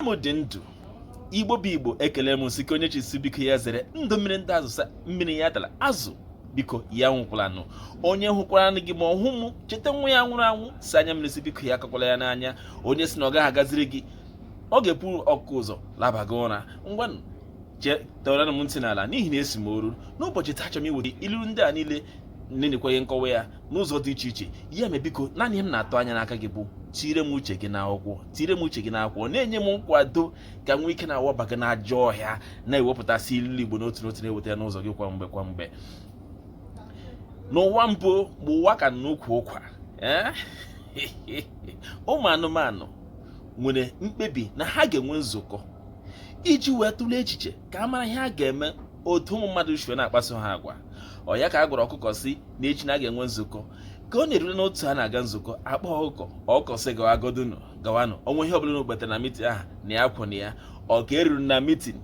m dị ndụ igbo bụ igbo ekele m sike onye chi si biko ya zere ndụ mmiri ndụ azụ si mmiri ya atala azụ biko ya anwụkwalanụ onye hụkwaranụ gị ma ọ hụ m cheta nwa ya nwụrụ anwụ si anya mmiri si biko ya akọkwala ya n'anya onye si na ọ gaghị agaziri gị ọ ga-eburu ọkụkọ ụzọ laba gị ụra ngwanụ tọọranụ m ntị n'ala n'ihi na asị m o ruo n'ụbọchị taa achọrọ m iweta ilulu ndị a niile na-enyekwa gị nkọwa ya n'ụzọ dị iche iche ya mere biko naanị ihe m na-atụ anya n'aka gị bụ tire m uche gị n'akwụkwọ tire m uche gị n'akwụkwọ na-enye m nkwado ka m nwee ike na-awaba gị n'ajọ ọhịa na-ewepụtasị ilu igbo n'otu n'otu na-eweta ya n'ụzọ gị kwa mgbe kwa mgbe n'ụwa mbụ mgbe ụwa ka nọ n'ukwu ụkwa eh? ụmụ anụmanụ nwere mkpebi na ha ga-enwe nzukọ iji wee tụlee echiche ka a mara ihe a ga-eme otu ụmụ mmadụ si na-akpaso ha agwa ọ ya ka a gwara ọkụkọ si na echi na a ga-enwe nzukọ ka ọ na-erule n'otu a na-aga nzukọ a kpọọ ọkụkọ ọkụkọ sị gawa godunu gawanụ o nwee ihe ọbụla unu kwetara na mitin aha na ya kwụ na ya ọ ka e ruru na mitin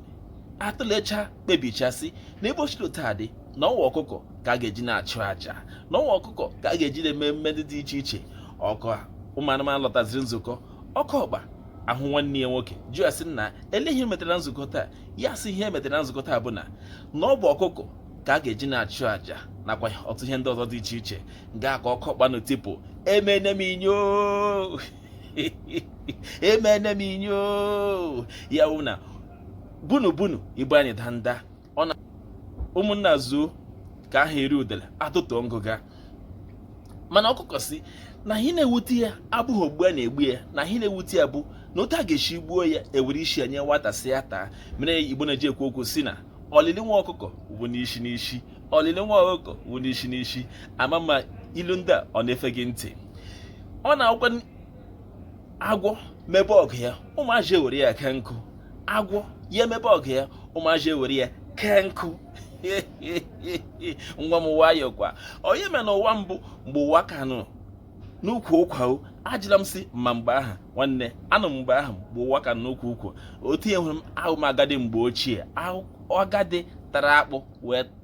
a tụlecha kpebichasị na ebe ochiri taa dị na ọ wụ ọkụkọ ka a ga-eji na-achụ aja na ọ wụ ọkụkọ ka a ga-eji na-eme mmemme ndị dị iche iche ọ ka ụmụ anụmanụ lọtaziri nzukọ ọkụkọ agaa hụ nwanne ya nwoke jụọ ya sị na elee ihe e metara nzukọ taa ya sị ihe e metara na nzukọ taa bụ na na ọ bụ ọkụkọ ka a ga-eji na-achụ àjà nakwa ọtụtụ ihe ndị ọzọ dị iche iche ga ka ọkụ kpanụ tipụ emene m inyo emene m inyo ya wụ na bunu bunu ibu anyị danda ọ na ụmụnna zuo ka a ga-eri udele a totuo ngụga mana ọkụkọ si na ihe na-ewute ya abụghị ogbu a na-egbu ya na ihe na-ewute ya bụ na otu a ga-esi gbuo ya e were isi ya nye nwata si ya taa mere igbo na-eji ekwu okwu si na olili nwa ọkụkọ bụ n'isi n'isi olili nwa ọkụkọ bụ n'isi n'isi ama m ma ilu ndị a ọ na-efe gị ntị ọ na-agwa agwọ mebe ọgụ ya ụmụazị ewere ya kee nkụ agwọ ya emebe ọgụ ya ụmụazị ewere ya kee nkụ nwa m nwayọọ kwa o nwere ihe mere n'ụwa mbụ mgbe ụwa ka nọ n'ukwu ụkwa o ajụla m si ị ma mgbe ahụ nwanne anọ m mgbe ahụ mgbe ụwa ka nọ n'ukwu ụkwa otu ị hụrụ m awụ m agadi mgbe ochie agadi tara akpụ wee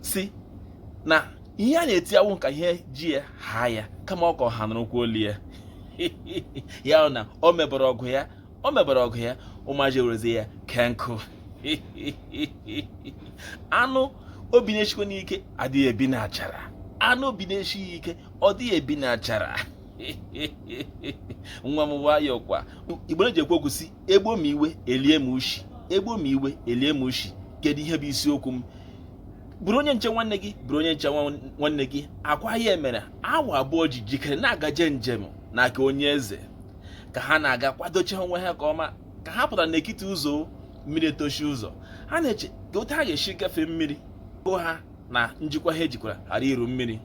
si na ihe a na-eti awụghị ka ihe ji ya haa ya kama ọ ka ọha nụrụkwa olu ya ya na o mebere ọgụ ya o mebere ọgụ ya ụmụazị werezi ya kee nkụ anụ obi na-eshikwanụ ike adịghị ebi n'achara anụ obi na-eshighị ike ọ dịghị ebi n'achara nwa m nwayọọ kwa igbo na-eji ekwu okwu si e gbuo m iwe e lie m ushi e gbuo m iwe e lie m ushi kedu ihe bụ isiokwu m bụrụ onye nche nwanne gị bụrụ onye nche nwanne gị ọ kwa ya mere awọ abụọ ji jikere na-agaje njem na nke onye eze ka ha na-aga kwadocha onwe ha nke ọma ka ha pụtara n'ekiti ụzọ mmiri etochi ụzọ ha na-eche ka otu ha ga-esi gafee mmiri go ha na njikwa ha jikwara ghara iru mmiri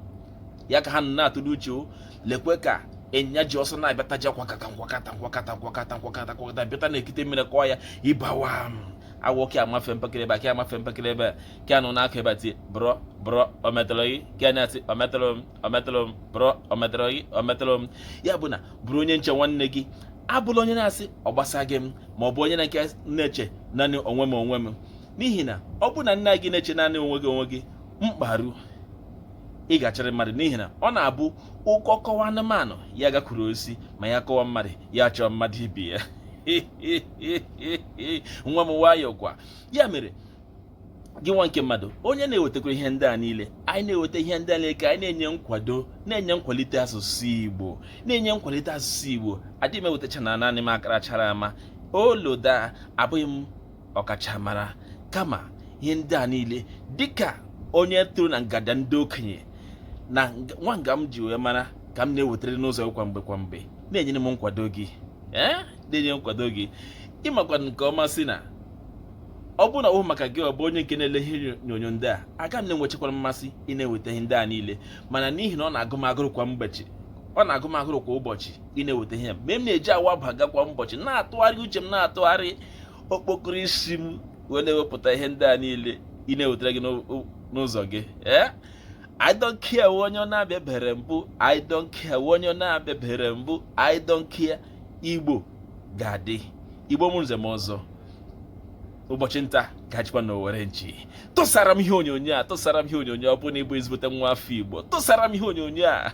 ya ka ha nọ na-atụle uche lekwe ka ịnyịnya ji ọsọ na-abịataja kwakata nkwakata nkwakata nkwakata nkwakata nkwakata bịata n'ekiti mmiri kọọ ya ịbawa awọ nke a amafee mpekere ebe a nke a amafee mpekere ebe a nke a nọ n'aka ebe a tie brọ brọ o metọrọ gị nke a na-eti o metọrọ m o metọrọ m brọ o metọrọ gị o metọrọ m ya bụ na bụrụ onye nche nwanne gị abụla onye na-asị ọ gbasaghị m ma ọ bụ onye nke na-eche naanị onwe m onwe m n'ihi na ọ bụ na gị na-eche naanị onwe gị onwe gị mkpa ruo ị ga-achọrịrị mmadụ n'ihi na ọ na-abụ ọkọ kọwa anụmanụ ya gakwuru osisi ma ya kọwa mmadụ ya chọọ mmadụ ibe ya ee nwa m nwayọọ kwa ya mere gị nwa nke mmadụ onye na-ewetakwara ihe ndị a niile anyị na-eweta ihe ndị a niile ka anyị na-enye nkwado na-enye nkwalite asụsụ Igbo na-enye nkwalite asụsụ Igbo adịghị m ewetacha na naanị m makarachara ama oloda abụghị m ọkachamara kama ihe ndị a niile dịka onye toro na ngada ndị okenye na nwa nga m ji wee mara ka m na-ewetara n'ụzọ kwa mgbe kwa mgbe na-enyere m nkwado gị ee na-enye nkwado gị ị makwa nke ọma sị na ọ bụrụ na ọ bụghị maka gị bụ onye nke na-ele ihe onyonyo ndị a aga m na-enwechakwara mmasị ị na-eweta ihe ndị a niile mana n'ihi na ọ na-agụ m agụrụ kwa mbọchị ọ na-agụ m agụrụ kwa ụbọchị ị na-eweta ihe mere m na-eji awa baga kwa ụbọchị na-atụgharị uche m na-atụgharị okpokoro isi m wee na-ewepụta ihe ndị a niile ị na-ewetara gị n'ụzọ gị ee I don't care onye ọ na-abịabere mbụ I don't care onye ọ na-abịabere mbụ I don't care Igbo ga-adị Igbo mụrụ nze mụọ ọzọ ụbọchị nta ka a chụkwa n'owere nchi tụsara m ihe onyonyo a tụsara m ihe onyonyo ọ bụ na ị bụ ezigbote nwa afọ Igbo tụsara m ihe onyonyo a